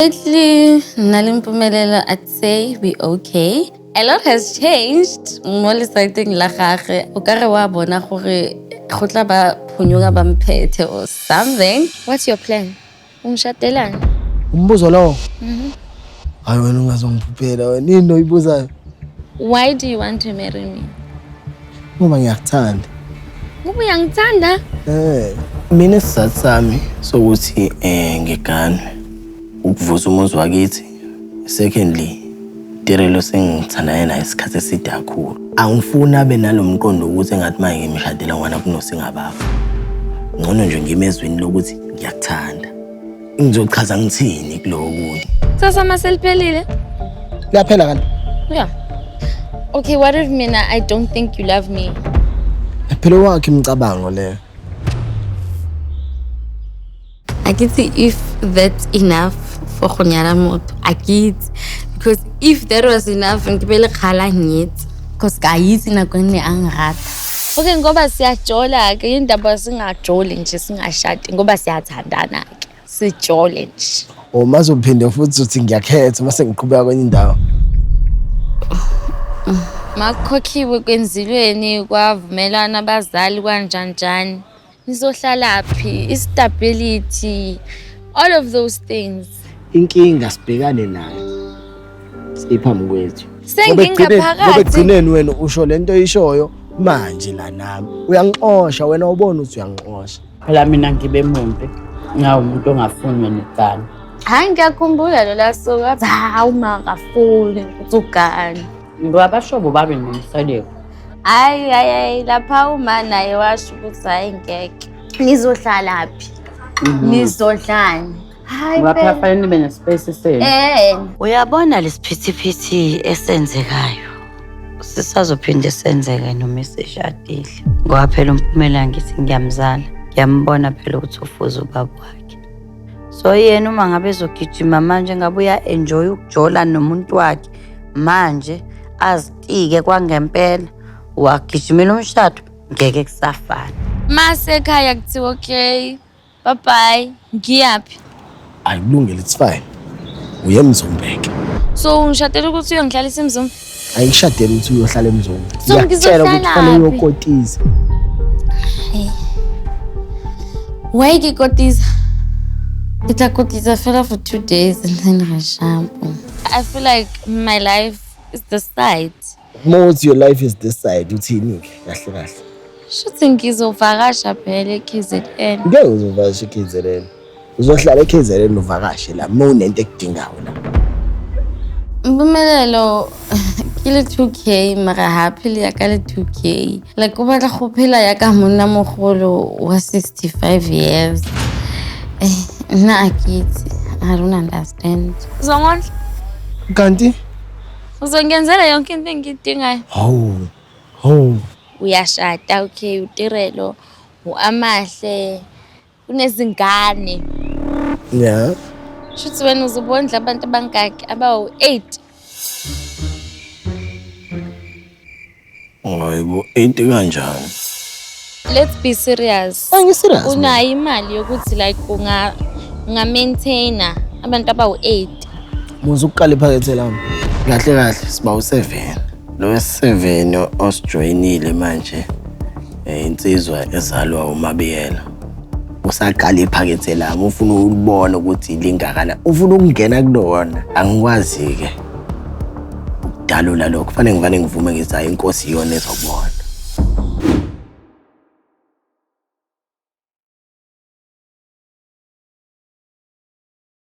Lately, Nalimpumelelo, I'd say we okay. A lot has changed. Mo lesaiteng la gagwe, o ka re wa bona gore go tla ba phonyoka ba mphethe or something. What's your plan? Ungishatelani? Umbuzo lowo. Mhm. Hayi wena ungazongiphuphela wena. Yini oyibuzayo? Why do you want to marry me? Ngoba ngiyakuthanda. Ngoba uyangithanda? Eh, mina isizathu sami sokuthi eh ngigane ukuvusa umuzi wakithi. Secondly, Tirelo sengithandane naye isikhathi eside kakhulu. Angifuni abe nalomqondo ukuthi engathi manje ngimshadela ngwana kunosingababa. Ngcono nje ngimezwini lokuthi ngiyakuthanda. Ngizochaza ngithini kuloku. Sasa maseliphelile. Liyaphela kanti. Yeah. Okay, what if mina I don't think you love me? Phela wakhe imicabango le. Akithi if that's enough for go nyala motho. Akithi because if that was enough ngibele khala ngitsi. Cause ka itse nako ne a ngrata. Okay ngoba siyajola ke indaba singajoli nje singashadi ngoba siyathandana ke sijole nje. Uma uzophinde futhi uthi ngiyakhetha uma sengiqhubeka kwenye indawo. Makukhokhiwe kwenzilweni kwavumelana abazali kwanjanjani. nizohlalaphi istability all of those things inkinga sibhekane nayo siphambi kwethu sengingaphakathi ekugcineni wena usho lento oyishoyo manje la nami uyangixosha wena ubona ukuthi uyangixosha phela mina ngibe mumbi ngawumuntu ongafunwe necala hayi ngiyakhumbula lola suka hawu ma akafuni uthi ugani Ngabashobo babe nomseleko. Hayi hayi hayi lapha uma naye washo ukuthi hayi ngeke. Nizohlala phi? Mhm. Nizodlani? Hayi Ngapha phela. fanele nibe nespace senu. Eh, Uyabona lesiphithiphithi esenzekayo sisazophinde senzeke noma esishadile ngoba phela umpumela ngithi ngiyamzala ngiyambona phela ukuthi ufuza ubaba wakhe so yena uma ngabe ezogijima manje ngabe uya-enjoya ukujola nomuntu wakhe manje azitike kwangempela wagijimela umshado ngeke kusafana mase ekhaya kuthiwa okay bye bye ngiyaphi ayikulungile it's fine uye emzombeke so ungishadela ukuthi uyongihlalisa emzombe ayishadele ukuthi uyohlala emzombe So, ngizokutshela ukuthi ngizohlalaphi? fanele uyokotiza Why ke kotiza? Ke tla kotiza fela for two days and then re shapo. I feel like my life is the side. Most your life is this side uthini ke kahle kahle. Shuthi ngizovakasha phela eKZN. Ngeke uzovakasha eKZN. Uzohlala eKZN uvakashe la uma unento ekudingayo la. Mpumelelo ke le 2k mara happily ya ka le 2k like o batla go phela ya ka monna mogolo wa 65 years Eh, nna a ke itse a rona last And uzongondla? Kanti uzongenzela yonke into engiyidingayo. Hawu. Hawu. Uyashada okay utirelo uamahle kunezingane. Yeah. Shuthi wena uzobondla abantu abangaki abawu 8. Hayibo into kanjani? Let's be serious. Angi serious. Unayo imali yokuthi like unga unga maintainer abantu abawu-8. Muzi ukuqala iphakethe lami. Kahle kahle siba u-7. Lo wesi-7 osijoyinile manje eh, insizwa ezalwa uMabiyela. usaqala iphakethe lami ufuna ukubona ukuthi lingakana ufuna ukungena kulona angikwazi-ke Ukudalula lokho fanele ngivane ngivume ngizayo inkosi iyona ezokubona.